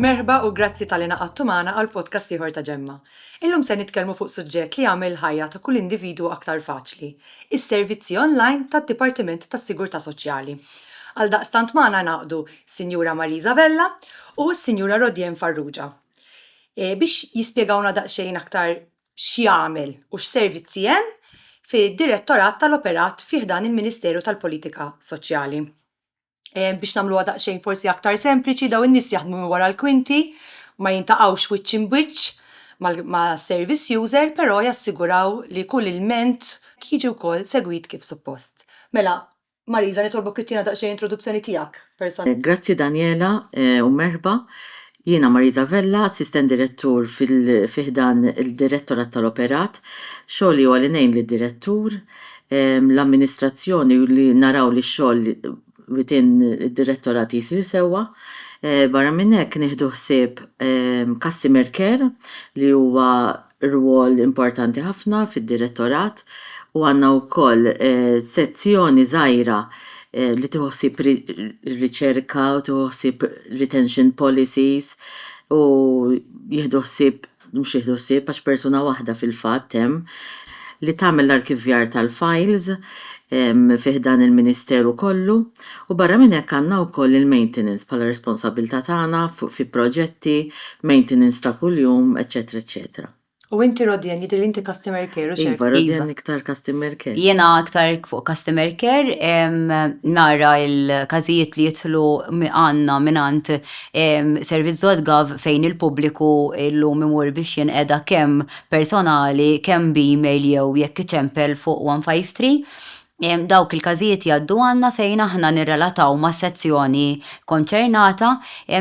Merħba u grazzi tal-li naqattu magħna għal podcast ieħor ta' Ġemma. Illum se nitkellmu fuq suġġett li jagħmel il-ħajja ta' kull individwu aktar faċli, is-servizzi online tad-Dipartiment tas-Sigurtà Soċjali. Għaldaqstant magħna ngħaqdu Sinjura Marisa Vella u s-Sinjura Rodienne Farrugia e, biex jispjegawna daqsxejn aktar x'jagħmel u x'servizzi hemm fid-Direttorat tal-Operat fi ħdan il-Ministeru tal-Politika Soċjali. Biex nagħmluha daqsxejn forsi aktar sempliċi, dawn in-nies jaħdmu minn wara l-kwinti, ma jintaqgħux wiċċ imbwiċċ mas-service user, però jassiguraw li kull ilment jiġi wkoll segwit kif suppost. Mela, Marisa, nitolbok ittina daqsxejn introduzzjoni tiegħek person. Grazzi Daniela u merħba. Jiena Marisa Vella, Assistent Direttur fi ħdan il-Direttorat tal-Operat. Xogħli huwa li ngħin lid-Direttur, l-Amministrazzjoni u li naraw li x-xogħol within id-Direttorat jsir sewwa. Barra minn hekk nieħdu ħsieb Customer Care li huwa rwol importanti ħafna fid-Direttorat u għandna wkoll sezzjoni żgħira li tieħu ħsieb ir-riċerka u tieħu ħsieb retention policies u jieħdu ħsieb, mhux jieħdu ħsieb għax persuna waħda fil-fatt hemm, li tagħmel l-arkivjar tal-files fi ħdan il-Ministeru kollu. U barra minn hekk għandna wkoll il-maintenance bħala responsabbiltà tagħna fi proġetti, maintenance ta' kuljum, eċċetera eċċetera. U inti Rodian jidhirli inti customer care u Iva, Rodian iktar customer care. Jiena iktar fuq customer care, nara l-każijiet li jidħlu għandna mingħand servizz.gov fejn il-pubbliku llum imur biex jinqeda kemm personali, kemm b'email jew jekk iċempel fuq 153. Dawk il-każijiet jgħaddu għandna fejn aħna nirrelataw mas-sezzjoni konċernata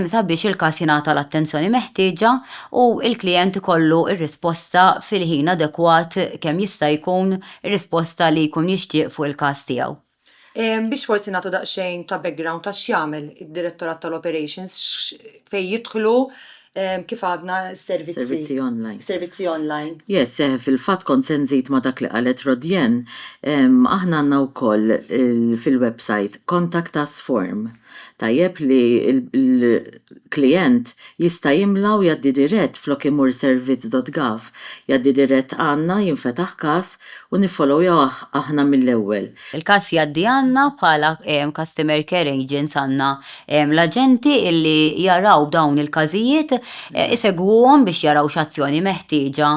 sabiex il-każ jingħata l-attenzjoni meħtieġa u l-klijent ikollu r-risposta fil-ħin adekwat kemm jista' jkun, ir-risposta li jkun jixtieq fuq il-każ tiegħu. Biex forsi nagħtu daqsxejn ta' background ta' x'jagħmel id-Direttorat tal-Operations, fejn jidħlu kif għadna s-servizzi. Servizzi online. Servizzi online. Yes, eh, fil-fat kont se nżid ma dak li qalet Rodjen, aħna għandna wkoll fil-website contact us form. Tajjeb li l-klient jista' jimla u jaddi dirett flok imur servizz.gov. Jaddi dirett għandna jinfetaħ każ u niffollowjawh aħna mill-ewwel. Il-każ jaddi għandna bħala customer care agents għandna L-aġenti li jaraw dawn il-każijiet isegwuhom biex jaraw x'azzjoni meħtieġa.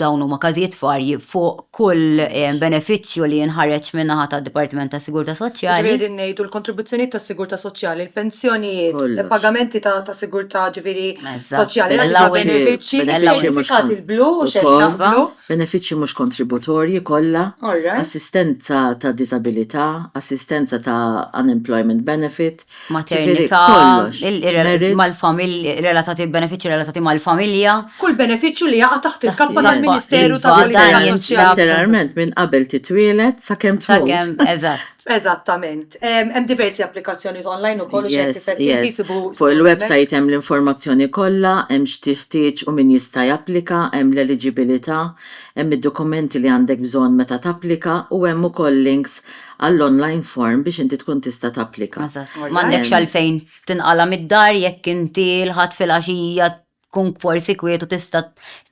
Dawn huma każijiet varji fuq kull benefiċċju li jinħareġ min-naħa tad-Dipartiment tas-Sigurtà Soċjali. Jiġifieri qegħdin ngħidu l-kontribuzzjonijiet tas-Sigurtà Soċjali, il-pensjonijiet, il-pagamenti ta' sigurtà ġifieri soċjali, l-allowances, benefiċċji identifikati l-blu, xeddna blu. Benefiċċji mhux kontributorji kollha, assistenza ta' diżabilità, assistenza ta' unemployment benefit, jiġifieri kollox, merit. Maternità, relatati, benefiċċji relatati mal-familja. Kull benefiċċju li jaqa' taħt il-kappa tal-Ministeru tal-Politika Soċjali. Iva, dan jintlef. Letteralment minn qabel titwieled sakemm tmut. Sakemm, eżatt. Eżattament. Hemm diversi applikazzjonijiet online ukoll u xi Yes, effetti yes. jsibu Fuq skont il-website hemm l-informazzjoni kollha, hemm x'tiħtieġ u min jista' japplika, hemm l-eliġibilità, hemm id-dokumenti li għandek bżonn meta tapplika u hemm ukoll links għall-online form biex inti tkun tista' tapplika. Eżatt. M'għandekx għalfejn tinqala' mid-dar jekk inti l-Ħadd filgħaxija tkun forsi kwietu tista'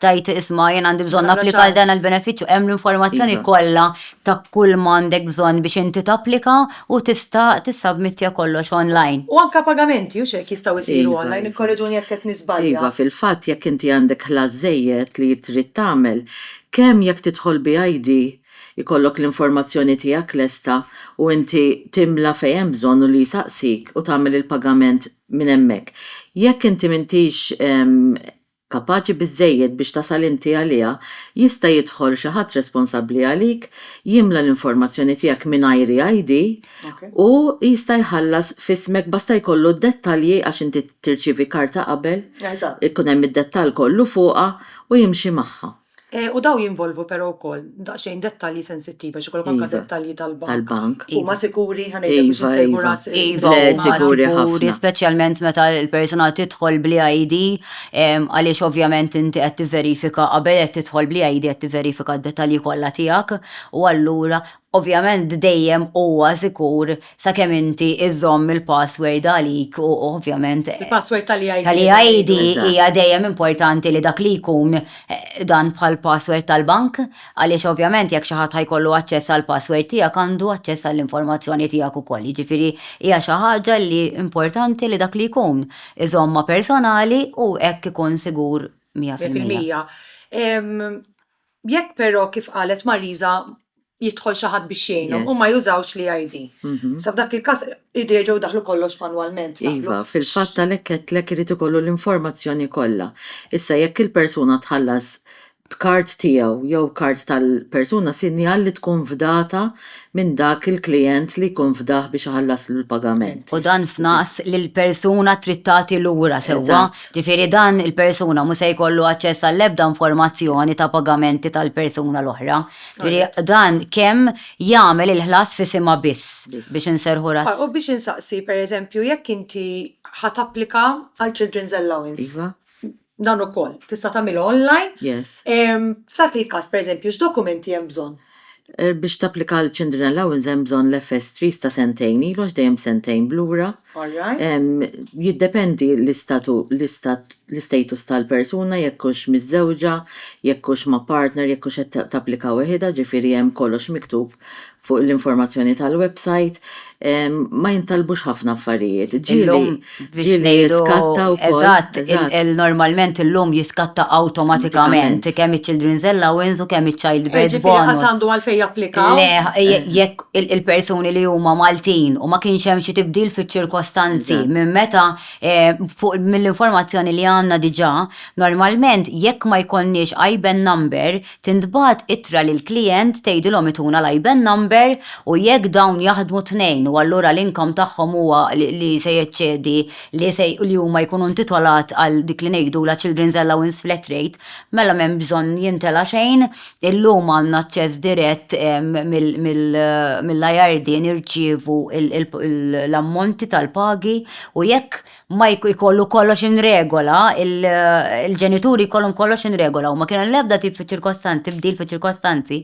tajt isma' jien għandi bżonn applika għal dan il-benefiċċju hemm l-informazzjoni iva. kollha ta' kull ma għandek bżonn biex inti tapplika u tista' tissabmittja kollox online. U anke pagamenti u x'hekk jistgħu jsiru iva, online, iva. ikkorreġuni jekk qed niżbalja. Iva, fil-fatt jekk inti għandek ħlas żejjed li trid tagħmel, kemm jekk tidħol bi ID ikollok l-informazzjoni tiegħek lesta u inti timla fejn hemm bżonn u li jsaqsik u tagħmel il-pagament minn hemmhekk. Jekk inti m'intix kapaċi biżżejjed biex tasal inti għaliha, jista' jidħol xi ħadd responsabbli għalik, jimla l-informazzjoni tiegħek mingħajri ID u jista' jħallas f'ismek basta jkollu d-dettalji għax inti tirċievi karta qabel, ikun hemm id-dettall kollu fuqha u jimxi magħha. Eh, u daw jinvolvu però wkoll daqsxejn dettalji sensittivi għax ikollok anke Iva. dettalji tal-bank. tal-bank. Huma sikuri ħanejdu biex Iva, insejħu iva. ras il- Iva, Le, huma sikuri ħafna. speċjalment meta l-persuna tidħol bli ID, em, għaliex ovvjament inti qed tivverifika qabel qed tidħol bli ID qed tivverifika d-dettalji kollha tiegħek u allura Ovvjament dejjem huwa sikur sakemm inti iżżomm il-password għalik u ovvjament. Il-password tal-eID. Tal-eID hija dejjem importanti li dak li jkun dan bħall-password tal-bank għaliex ovvjament jekk xi ħadd ħa jkollu aċċess għall-password tiegħek għandu aċċess għall-informazzjoni tiegħek ukoll. Jiġifieri hija xi ħaġa li importanti li dak li jkun iżommha personali u hekk ikun sigur mija fil-mija. Jekk però kif qalet Marisa jidħol xi ħadd biex jgħinhom, huma jużawx l-EID. Issa f'dak il-każ iridu jerġgħu jdaħħlu kollox manwalment. Iva, fil-fatt għalhekk għedtlek irid ikollu l-informazzjoni kollha. Issa jekk il-persuna tħallas b'kard tiegħu jew kard tal-persuna sinjal li tkun fdata minn dak il-klijent li jkun fdah biex iħallaslu l-pagament. U dan f'naqs li l-persuna trid tagħti lura sewwa, ġifieri dan il-persuna mhu se jkollu aċċess għall-ebda informazzjoni ta' pagamenti tal-persuna l-oħra. Ġifieri dan kemm jagħmel il-ħlas f'isimha biss biex inserrħu ras. U biex insaqsi, pereżempju, jekk inti ħa tapplika għal children's allowance. Iva. Dan ukoll tista' tagħmilha online. Yes. Em, F'dak il-każ, pereżempju, x'dokumenti hemm bżonn? Eh, Biex tapplika għal Children Allowance hemm bżonn l-FS3 ta' sentejn ilu għax dejjem sentejn blura. All right. Em, Jiddependi l-istatu l-istat l-istatus tal-persuna jekk hux miżżewġa, jekk hux ma' partner, jekk hux qed ta- tapplika weħidha, ġifieri hemm kollox miktub fuq l-informazzjoni tal-website, ma jintalbux ħafna affarijiet. Ġieli, ġieli jiskatta u Eżatt, normalment illum jiskatta awtomatikament kemm iċ-Children's Allowance u kemm iċ-Child Birth Bonus. Ġifieri lanqas għandu għalfejn japplika? Le, jekk il-persuni li huma Maltin u ma kienx hemm xi tibdil fiċ-ċirkostanzi minn meta, mill-informazzjoni li għandna diġà, normalment jekk ma jkollniex IBAN number, Tintbagħat ittra lill-klijent tgħidilhom ituna l-IBAN number u jekk dawn jaħdmu t-tnejn u allura l-income tagħhom huwa li se jeċċedi li se li huma jkunu intitolat għal dik li ngħidulha children's allowance flat rate mela m'hemm bżonn jimtela' xejn. Illum għandna aċċess dirett mill-IRD nirċievu l-ammonti tal-pagi u jekk ma jkollu kollox in regola, il-ġenituri jkollhom kollox in regola u ma kien l-ebda tip fi ċirkostanzi, tibdil fi ċirkostanzi,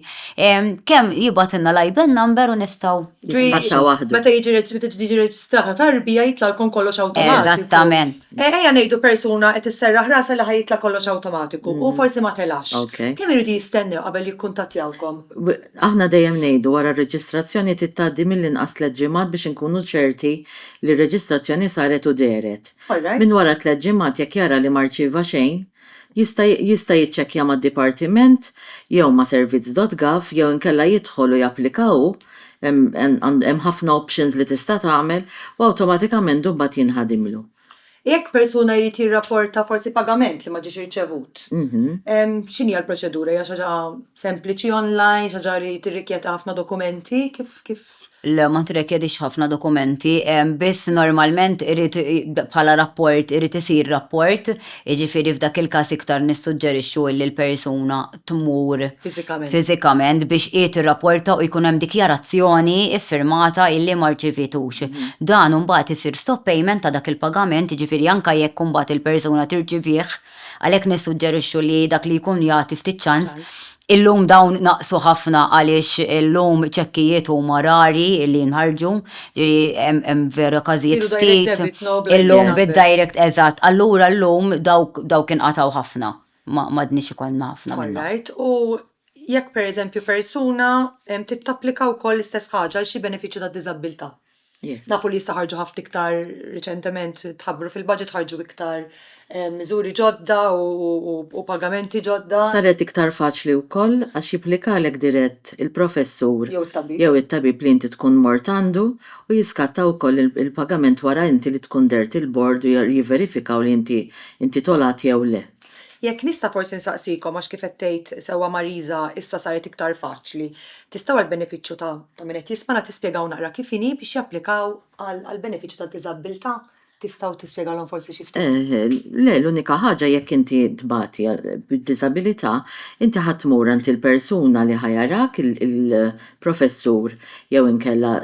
kemm jibgħatilna l-IBAN number u nistgħu. Jispiċċa waħdu. Meta meta tiġi reġistrata tarbija jitlgħalkom kollox awtomatiku. Eżattament. Ejja ngħidu persuna qed isserraħ rasha li ħa jitla' kollox awtomatiku u forsi ma telax. Kemm iridu jistennew qabel jikkuntattjawkom? Aħna dejjem ngħidu wara r-reġistrazzjoni trid tgħaddi mill-inqas tliet ġimgħat biex inkunu ċerti li r-reġistrazzjoni saret u dehret. Minn wara tliet ġimgħat jekk jara li ma rċieva xejn, jista' jista' jiċċekkja mad-dipartiment jew ma' servizz.gov jew inkella jidħol u japplika hu, hemm ħafna options li tista' tagħmel, u awtomatikament imbagħad jinħadimlu. Jekk persuna jrid jirrapporta forsi pagament li ma ġiex irċevut, x'inhi l-proċedura? Hija xi ħaġa sempliċi online, xi ħaġa li tirrikjedi ħafna dokumenti? Kif, kif? Le, ma tirrikjedix ħafna dokumenti, biss normalment irid bħala rapport irid isir rapport, jiġifieri f'dak il-każ iktar nissuġġerixxu li l-persuna tmur fiżikament biex hi tirrapporta u jkun hemm dikjarazzjoni ffirmata illi ma rċivitux. Mhm. Dan imbagħad isir stop payment ta' dak il-pagament, jiġifieri anke jekk imbagħad il-persuna tirċivih, għalhekk nissuġġerixxu li dak li jkun jagħti ftit ċans. Illum dawn naqsu ħafna għaliex illum ċekkijiet huma rari li jinħarġu, ġiri hemm vera każijiet ftit. Illum bid-direct eżatt. Allura llum dawk inqataw ħafna. ma m'għadniex ikollna ħafna minnhom. All right. U jekk pereżempju persuna em, trid tapplika wkoll l-istess ħaġa għal xi benefiċċju ta' diżabbiltà. Yes. Nafu li issa ħarġu ħafna iktar riċentement tħabbru fil-budget ħarġu iktar eh, miżuri ġodda u, u, u pagamenti ġodda. Saret iktar faċli wkoll għax jipplikalek dirett il-professur Jew it-tabib. jew it-tabib li inti tkun mort għandu u jiskatta wkoll il- il-pagament wara inti li tkun dert il-bord u jer- jiverifikaw li inti intitolat jew le. Jekk nista' forsi nsaqsikom għax kif qed tgħid sewwa Marisa issa saret iktar faċli, tistgħu għall-benefiċċju ta' ta' min qed jismana tispjegaw naqra kif inhi biex japplikaw għal għall-benefiċċju tad-diżabbiltà? Tistgħu tispjegalhom forsi xi ftit? Le, l-unika ħaġa jekk inti tbati bid-diżabilità, inti ħa tmur għand il-persuna li ħa jarak il, professur jew inkella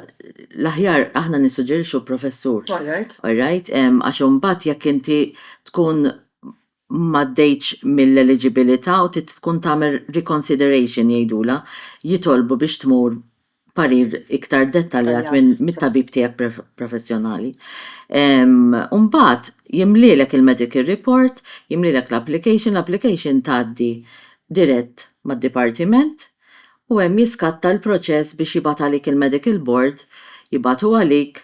l-aħjar aħna nissuġġerixxu professur. All right. All right, għax imbagħad jekk inti tkun m'għaddejtx mill-eliġibilità u trid tkun tagħmel reconsideration jgħidulha, jitolbu biex tmur parir iktar dettaljat mit-tabib tiegħek professjonali. U mbagħad jimlielek il-medical report, jimlielek l-application, l-application tgħaddi dirett mad-dipartiment, u hemm jiskatta l-proċess biex jibgħat għalik il-medical board, jibgħatu għalik,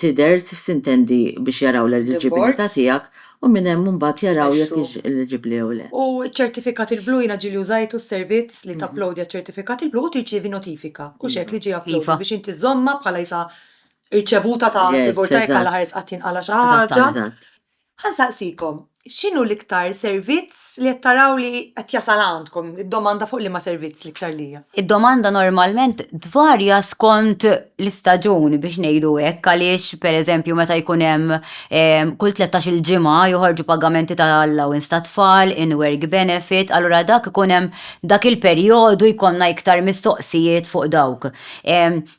tidher s'intendi biex jaraw l-eliġibilità tiegħek u minn hemm imbagħad jaraw jekk intx eliġibbli jew le. U ċ-ċertifikat il-blu jiena ġieli użajtu s-servizz li tapplowdja ċ-ċertifikat il-blu u tirċievi notifika, hux hekk, li ġie uploaded biex inti żżommha bħala jisha rċevuta ta' sigurtà jekk allaħeres qatt jinqala' xi ħaġa. Ħa nsaqsikom, x'inhu l-iktar servizz li qed taraw li qed jasal għandkom? Id-domanda fuq liema servizz l-iktar li hija? Id-domanda normalment tvarja skont l-istaġun biex ngħidu hekk għaliex pereżempju meta jkun hemm kull tlettax-il ġimgħa joħorġu pagamenti ta' allowance tat-tfal, in-work benefit, allura dak ikun hemm dak il-perjodu jkollna iktar mistoqsijiet fuq dawk.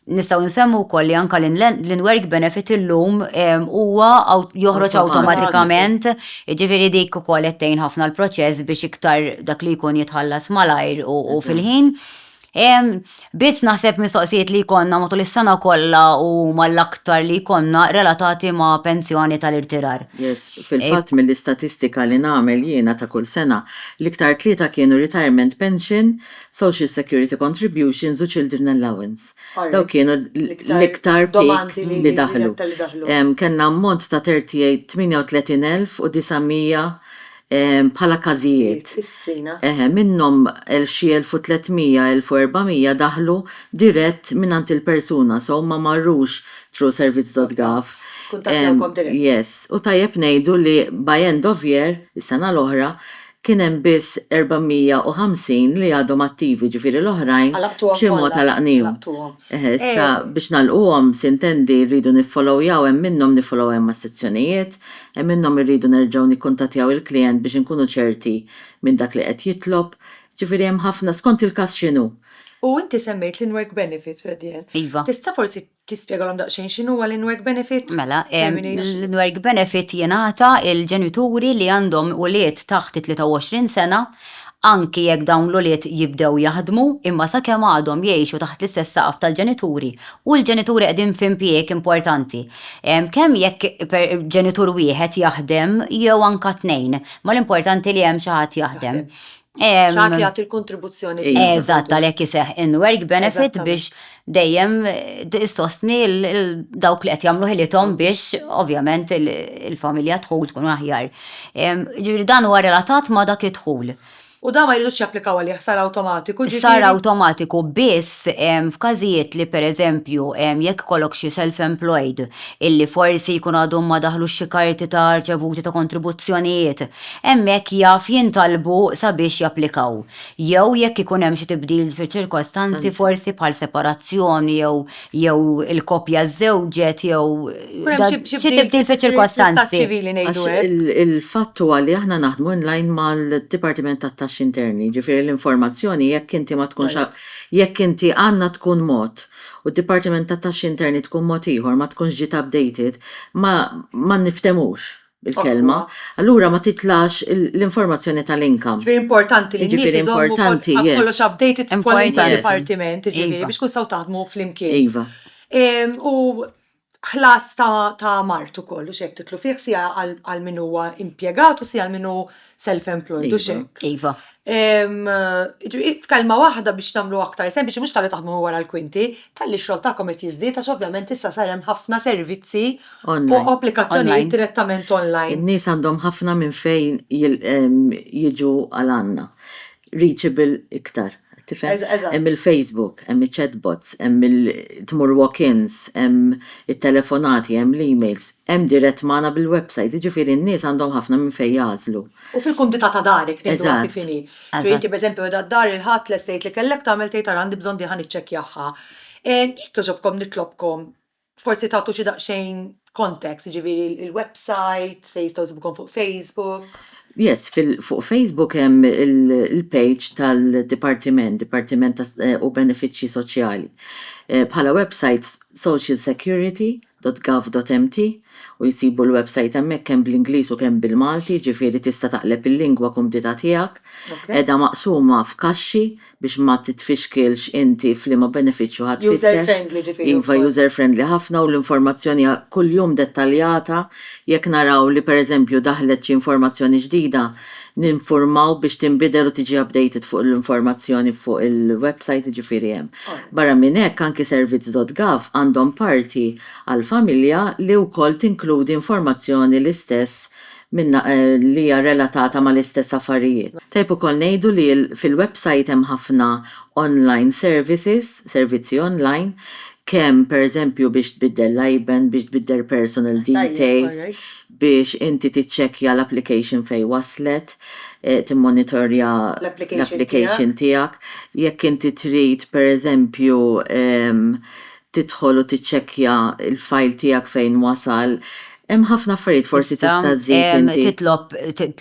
Nistgħu nsemmu wkoll li anka l-inwerk benefit illum huwa joħroġ awtomatikament, jiġifieri dik ukoll qed tgħin ħafna l-proċess biex iktar dak li jkun jitħallas malajr u fil-ħin. Biss naħseb mistoqsijiet li jkollna matul is-sena kollha u mal-aktar li jkollna relatati ma' pensjoni tal-irtirar. Yes, fil-fatt mill-istatistika li nagħmel jiena ta' kull sena, l-iktar tlieta kienu retirement pension, Social Security Contributions u Children Allowance. Dawk kienu l-iktar peak li daħlu. Kellna ammont ta' 38,900 bħala każijiet. Eħe, minnhom xi 1,300, 1,400 daħlu dirett mingħand il-persuna, so ma marrux through servizz.gov. Yes. U tajjeb ngħidu li by end of year, is-sena l-oħra, kien hemm biss 450 li għadhom attivi, ġifieri l-oħrajn b'xi mod għalaqnihom. Issa biex nagħlquhom, sintendi, rridu niffollowjaw hemm minnhom niffollowjahom mas-sezzjonijiet, hemm minnhom irridu nerġgħu nikkuntattjaw il-klijent biex inkunu ċerti minn dak li qed jitlob, ġifieri hemm ħafna, skont il-każ x'inhu. U inti semmejt l-in-work benefit, Fredien. Iva. Tista' forsi Tispjegalhom daqsxejn x'inhuwa l-in-work benefit? Mela, l-in-work benefit jingħata lill-ġenituri li għandhom ulied taħt it-23 sena, anki jekk dawn l-ulied jibdew jaħdmu, imma sakemm għadhom jgħixu taħt l-istess saqaf tal-ġenituri u l-ġenituri qegħdin f'impjieg importanti, kemm jekk ġenitur wieħed jaħdem jew anke tnejn, ma l-importanti li hemm xi ħadd jaħdem. ċaħat li għati l-kontribuzzjoni. Eżatt, għalek jiseħ in work benefit biex dejjem eh, sostni dawk li qed jagħmlu ħilitom biex ovvjament il-familja tħul tkun aħjar. Ġifieri dan huwa relatat ma' dak id-dħul. U da ma jridux japplikaw għalih sar awtomatiku ġifieri. Sar awtomatiku biss f'każijiet li pereżempju jekk kollok xi self-employed illi forsi jkun għadhom ma daħlu xi karti ta' rċevuti ta' kontribuzzjonijiet hemmhekk jaf jintalbu sabiex japplikaw, jew jekk ikun hemm xi tibdil fiċ-ċirkostanzi forsi bħal separazzjoni jew jew il-koppja żżewġet jew Ikun hemm xi xi tibdil tibdil fiċ-ċirkostanzi. fl-istat ċivili ngħidu Għax hekk. il- il-fatt huwa li aħna naħdmu in line mal-Dipartiment tat-Taxxi Interni, jiġifieri l-informazzjoni jekk inti ma tkunx Tajjeb. jekk inti għandna tkun mod u d-Dipartiment tat-Taxxi Interni tkun mod ieħor ma tkunx ġiet updated ma ma nifthemux. bil-kelma, allura ma titlax l-informazzjoni tal-income. Ġifieri importanti li n-nies iżommu kollox updated f'kwalunkwe dipartiment, jiġifieri biex tkunu tistgħu taħdmu flimkien. U ħlas ta' mart ukoll, hux hekk titlu fih siegħa għal min huwa impjegat u siegħa għal min hu self-employed u Iva, xek. Iva. Em, ġi- F'kelma waħda biex namlu aktar sempliċi, mhux tal-li taħdmu wara l-kwinti, tal-li xogħol tagħkom qed jiżdied għax ovvjament issa sar hemm ħafna servizzi u Online. applikazzjonijiet Online. direttament online. In-nies għandhom ħafna minn fejn jil- em, jiġu għal għandna. reachable iktar, qed tifhem? Hemm il-Facebook, hemm iċ-chatbots, hemm il-tmur walk-ins, hemm it-telefonati, hemm l-emails, hemm dirett magħna bil-website, jiġifieri n-nies għandhom ħafna minn fejn jagħżlu. U fil-kumdità ta' darek tieħduha kif inhi. Ġifieri inti pereżempju qiegħda d-dar il-Ħadd lest tgħid li kellek tagħmel tgħid ara għandi bżonn dieħa niċċekkjahha. Jekk jogħġobkom nitlobkom Forsi tagħtu xi daqsxejn context, jiġifieri il-website, fejn jistgħu jsibukom fuq Facebook. Yes, fuq Facebook hemm il-page tal-Dipartiment, Dipartiment eh, u Benefiċċji Soċjali. Eh, bħala website socialsecurity.gov.mt u jisibu l-website hemmhekk kemm bl-Ingliż u kemm bil-Malti, ġifieri tista' taqleb il-lingwa kumdita tiegħek. Edha maqsuma f'kaxxi biex ma titfixkilx inti f'liema benefiċċju ħa tfittex. User friendly ġifieri wkoll. Iva, user friendly ħafna u l-informazzjoni hija kuljum dettaljata. Jekk naraw li pereżempju daħlet xi informazzjoni ġdida, ninfurmaw biex tinbidel u tiġi updated fuq l-informazzjoni fuq il-website, jiġifieri hemm. Barra minn hekk, anki Servizz dot Gov għandhom parti għall-familja li wkoll tinkludi informazzjoni l-istess minnha li hija relatata mal-istess affarijiet. Tajjeb ukoll ngħidu li fil-websajt hemm ħafna online services, servizzi online, kemm pereżempju biex tbiddel l-IBAN, biex tbiddel personal details, biex inti tiċċekkja l-application fejn waslet, timmonitorja l-application tiegħek, jekk inti trid pereżempju tidħol u tiċċekkja l-fajl tiegħek fejn wasal. Hemm ħafna affarijiet forsi tista' żżid inti. Tista' titlob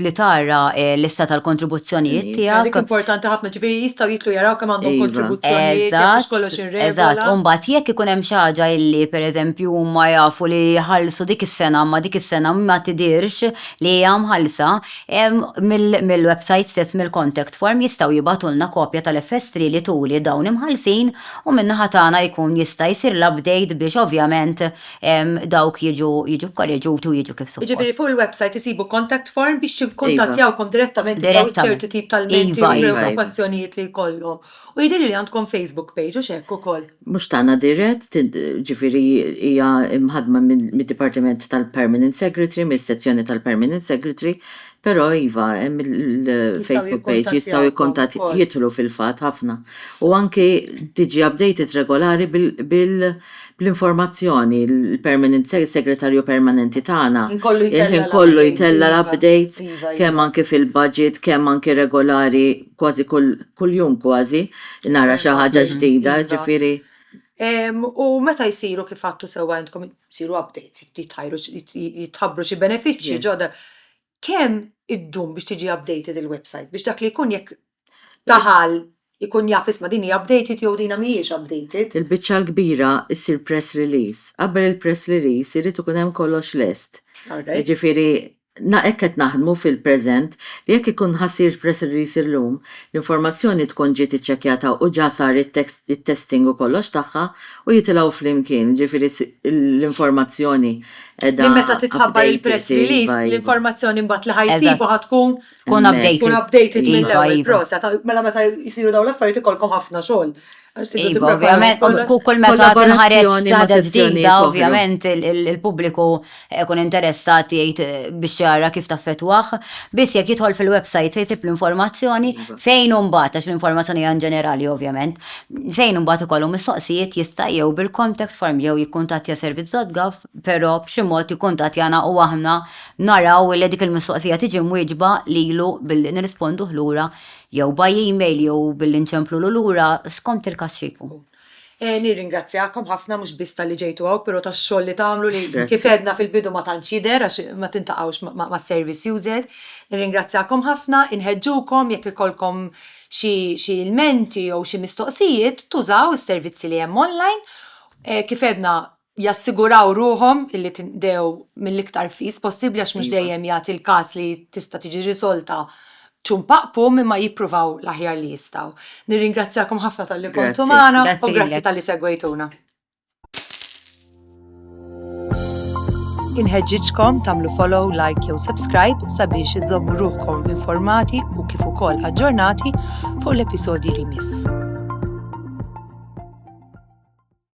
li tara l-lista tal-kontribuzzjonijiet tiegħek. Dik importanti ħafna, ġifieri jistgħu jidħlu jaraw kemm għandhom kontribuzzjonijiet, jekk mhux kollox irregola. Eżatt, u mbagħad jekk ikun hemm xi ħaġa li pereżempju huma jafu li ħallsu dik is-sena imma dik is-sena ma tidhirx li hija mħallsa, mill-websajt stess, mill-contact form jistgħu jibgħatulna kopja tal-FS3 li turi dawn imħallsin. u min-naħa tagħna jkun jista' jsir l-update biex ovvjament dawk jiġu jiġu kkoreġuti u jiġu kif suppost. Jiġifieri fuq il-website isibu contact form biex jikkuntattjawkom direttament jekk hawn ċertu tip ta' lmenti jew preokkupazzjonijiet li jkollhom. U jidhirli li għandkom Facebook page hux hekk ukoll? Mhux tagħna dirett, jiġifieri hija mħaddma mid-Dipartiment tal-Permanent Secretary, mis-sezzjoni tal-Permanent Secretary, Però iva, hemm il-Facebook page jistgħu jikkuntatt jidħlu fil-fatt ħafna. U anki tiġi updated regolari bl-informazzjoni, il-permanent segretarju permanenti tagħna il-ħin kollu jtella' l-updates kemm anki fil-budget, kemm anki regolari kważi kuljum kważi nara xi ħaġa ġdida, ġifieri. U meta jsiru kif għadtu sewwa intkom, isiru updates, jitħabbru xi benefiċċji ġodda. Kemm iddum biex tiġi updated il-website? Biex dak li jkun jekk daħal ikun jaf isma' din hija updated jew dina mhijiex updated. Il-biċċa l-kbira ssir press release. Qabel il-press release irid ikun hemm kollox lest. Jiġifieri Na hekk qed naħdmu fil-preżent li jekk ikun ħa ssir press release illum, l-informazzjoni tkun ġiet iċċekkjata u ġa sar it-testing u kollox tagħha u jitilgħu flimkien, jiġifieri l-informazzjoni qiegħda updated. Li meta titħabbar il-press release, l-informazzjoni mbagħad li ħa jsibu ħa tkun hemmhekk. Tkun updated mill-ewwel. Proset. Mela meta jsiru dawn l-affarijiet ikollkom ħafna xogħol. Għax tidu Iva, tippreparaw ovvjament, kollox. ku- kull meta tinħareġ Kollaborazzjoni ma' ħaġa sezzjonijiet ġdida, oħra. ovvjament il- il- il-pubbliku ikun interessat jgħid eh, biex jara kif taffettwah. Biss jekk jidħol fil-website se jsib l-informazzjoni Iva. fejn imbagħad għax l-informazzjoni hija ġenerali ovvjament. Fejn imbagħad ikollu mistoqsijiet jista' jew bil-contact form jew jikkuntattja servizz.gov, però b'xi mod jikkuntattjana u aħna naraw li dik il-mistoqsija tiġi mwieġba lilu billi nirrisponduh lura jew by email jew billi nċemplulu lura skont il-każ xi jkun. Nirringrazzjakom ħafna mhux biss talli ġejtu hawn pero tax-xogħol li tagħmlu li kif għedna fil-bidu ma tantx jidher għax ma tintaqgħux ma' service user. Nirringrazzjakom ħafna, inħeġġukom jekk ikollkom xi ilmenti jew xi mistoqsijiet tużaw is-servizzi li hemm online. Kif għedna jassiguraw ruħhom illi tinqdew mill-iktar fis possibbli għax mhux dejjem jagħti l-każ li tista' tiġi riżolta ċum paq pum imma jippruvaw l-aħjar li jistgħu. Nirringrazzjakom ħafna talli kontu magħna u grazzi talli segwejtuna. Inħeġġiġkom tagħmlu follow, like jew subscribe sabiex iżommu ruħkom informati u kif ukoll aġġornati fuq l-episodji li jmiss.